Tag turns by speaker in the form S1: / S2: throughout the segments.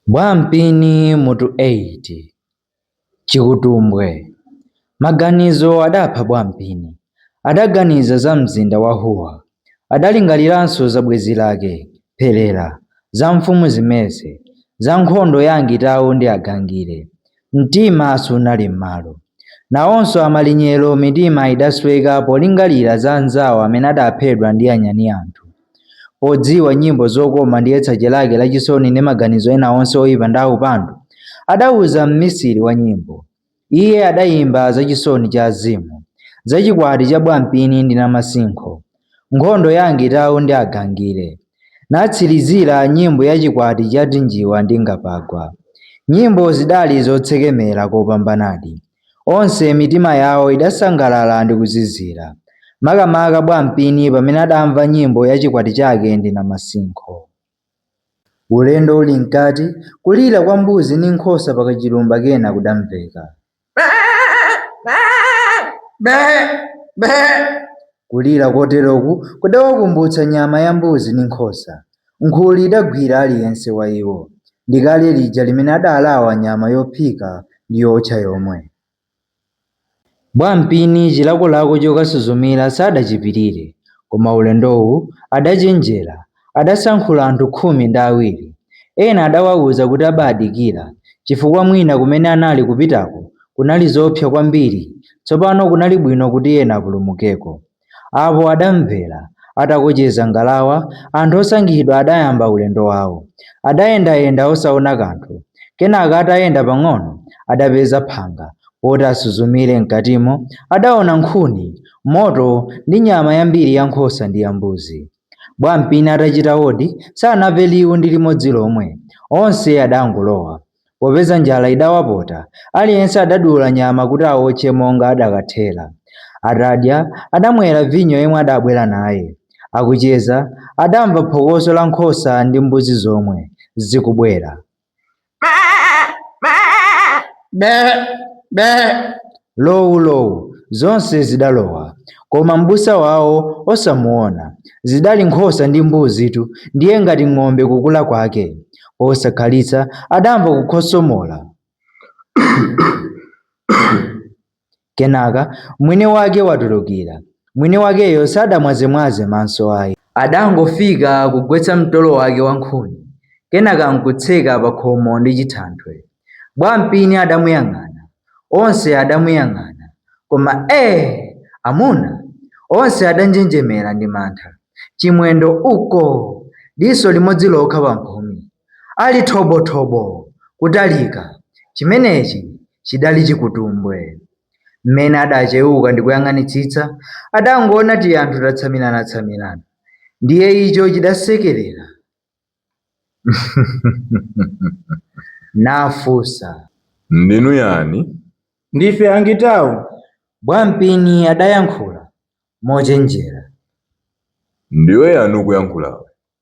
S1: Bwampini Mutu 8 Chikutumbwe Maganizo adapha Bwampini. Adaganiza za mzinda wa Huwa. Adalingaliranso za bwenzi lake, Pherera, za mfumu Zimeze, za nkhondo ya Angitau ndi Agangire, Mtima sunali m'malo. Nawonso amalinyero mitima idasweka polingalira za anzawo amene adaphedwa ndi anyani anthu. Odziwa nyimbo zokoma ndi yetsache lake la chisoni ndi maganizo ena onse oipa ndi aupandu, adauza mmisiri wa nyimbo. Iye adaimba za chisoni cha azimu, za chikwati cha bwampini ndi namasinkho, nkhondo ya Angitau ndi Agangire, natsirizira nyimbo ya Chikwati cha Tinjiwa ndi Ngapagwa. Nyimbo zidali zotsekemera kopambanadi. Onse mitima yawo idasangalala ndi kuzizira, makamaka Bwampini pamene adamva nyimbo ya chikwati chake ndi Namasinkho. Ulendo uli mkati, kulira kwa mbuzi ndi nkhosa pakachilumba kena kudamveka. kulira koteroku kudawakumbutsa nyama ya mbuzi ndi nkhosa. Nkhuli idagwira aliyense wa iwo ndi kale lija limene adalawa nyama yophika ndi yootcha yomwe. Bwampini chilakolako chokasuzumira sadachipirire, koma ulendowu adachenjera, adasankhula anthu khumi ndi awiri. Ena adawauza kuti abaadikira chifukwa mwina kumene anali kupitako kunali zoopsa kwambiri, tsopano kunali bwino kuti ena apulumukeko. Apo adamvera. Atakocheza ngalawa, anthu osankhidwa adayamba ulendo wao. Adayendayenda osaona kanthu. Kenaka atayenda pang'ono, adapeza phanga. Poti asuzumire m'katimo, adaona nkhuni, moto ndi nyama yambiri ya nkhosa ndi ya mbuzi. Bwampini atachita odi, sanamve liwu ndi limodzi lomwe. Onse adangolowa. Popeza njala idawapota, aliyense adadula nyama kuti aotche monga adakathera. Atadya, adamwera vinyo yemwe adabwera naye. Akucheza, adamva phokoso la nkhosa ndi mbuzi zomwe, zikubwera. be be lowulowu zonse zidalowa koma m'busa wawo osamuona zidali nkhosa ndi mbuzitu ndiye ngati ng'ombe kukula kwake posakhalitsa adamva kukhosomola Kenaka mwini wake watulukira. Mwini wakeyo sadamwazemwaze maso ayi. Adangofika kugwetsa mtolo wake wa nkhuni kenaka nkutseka pakhomo ndi chithanthwe. Bwampini adamuyang'ana. Onse adamuyang'ana. Koma ee! Amuna! Onse adanjenjemera ndi mantha. Chimwendo, Uko! Diso limodzi lokha pamphumi. ali thobothobo kutalika, chimenechi chidali chikutumbwe. Mmene adacheuka ndikuyang'anitsitsa, adangoona tianthu tatsamiranatsamirana, ndiye icho chidasekerera nafunsa. Ndinu yani? Ndife Angitau, Bwampini adayankhula mochenjera. Ndiwe yani ukuyankhulawe?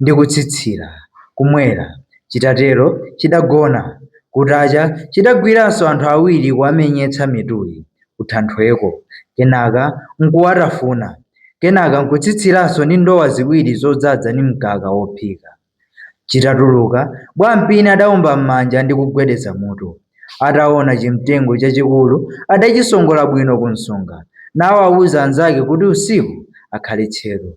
S1: ndi kutsitsira, kumwera. Chitatero chidagona. Kutacha chidagwiranso anthu awiri kuwamenyetsa mituli kuthanthweko kenaka n'kuwatafuna kenaka n'kutsitsiranso ndi ndowa ziwiri zodzadza ndi mkaka wophika. Chitatuluka, Bwampini adaomba m'manja ndi kugwedeza mutu. Ataona chimtengo chachikulu adachisongola bwino kumsonga nawauza anzake kuti usiku akhale tcheru.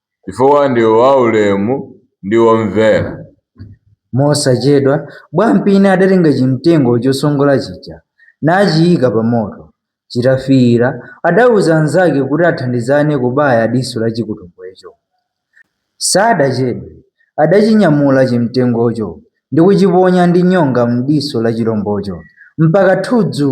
S1: chifukwa ndiwe waulemu ndi womvera. Mosachedwa, Bwampini adatenga chimtengo chosongola chija nachiika pa moto. Chitafiira, adauza anzake kuti athandizane kubaya diso la chikutumbwecho. Sadachedwe, adachinyamula chimtengocho ndi kuchiponya ndi nyonga m'diso la chilombocho mpaka thudzu!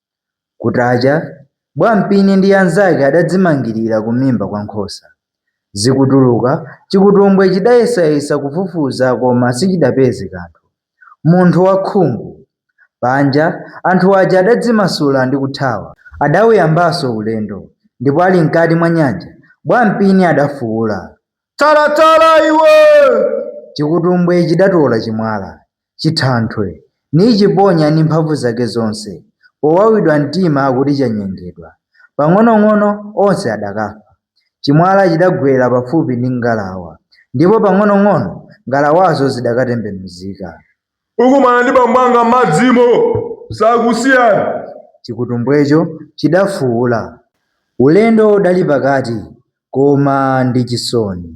S1: Kutacha, Bwampini ndi anzake adadzimangirira kumimba kwa nkhosa. Zikutuluka, chikutumbwe chidayesayesa kufufuza koma sichidapeze kanthu. Munthu wakhungu! Panja, anthu aja adadzimasula ndi kuthawa. Adauyambanso ulendo, ndipo ali mkati mwa nyanja, Bwampini adafuula, Tsalatsala iwe! Chikutumbwe chidatola chimwala. chithanthwe, nichiponya ndi mphamvu zake zonse, powawidwa mtima kuti chanyengedwa, pang'onong'ono onse adakafa. Chimwala chidagwera pafupi ndi ngalawa, ndipo pang'onong'ono ngalawazo zidakatembenuzika. Ukumana ndi bambo anga m'madzimo, sakusiyani. Chikutumbwecho chidafuula. Ulendo udali pakati, koma ndi chisoni.